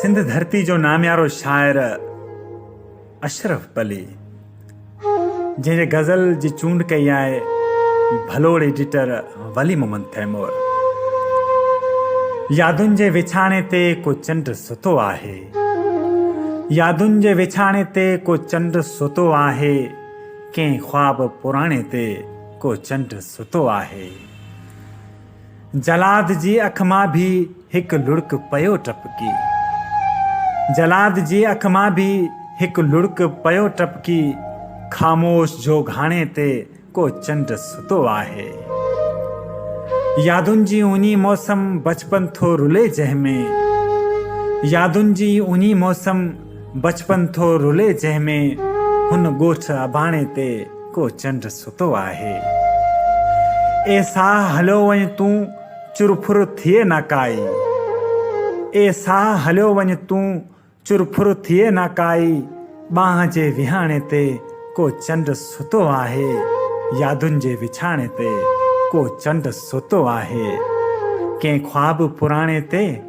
سنڌ ڌرتي جو ناميارو شاعر اشرف پلي جنهن جي غزل جي چونڊ ڪئي آهي ڀلوڙ ايڊيٽر ولي محمد تيمور يادن جي وڇاڻي تي ڪو چنڊ ستو آهي يادن جي وڇاڻي تي ڪو چنڊ ستو آهي ڪنهن خواب پراڻي تي ڪو چنڊ ستو آهي جلاد جي اک مان به هڪ لڙڪ پيو ٽپڪي. جلاد جي اک مان به هڪ لڙڪ پيو ٽپڪي. خاموش جوگهاڻي تي ڪو چنڊ ستو آهي. يادن جي اونهي موسم بچپن ٿو رلي جنهن ۾. يادن جي اونهي موسم. بچپن ٿو رلي جنهن ۾ هن ڳوٺ اباڻي تي ڪو چنڊ ستو آهي. اي ساهه هليو وڃ تون چر ڦر ٿئي نه ڪائي. اي ساهه هليو وڃ تون چر ڦر ٿئي نه ڪائي ٻانهه جي وهاڻي تي ڪو چنڊ ستو آهي يادن جي وڇاڻي تي ڪو چنڊ ستو آهي ڪنهن خواب پراڻي تي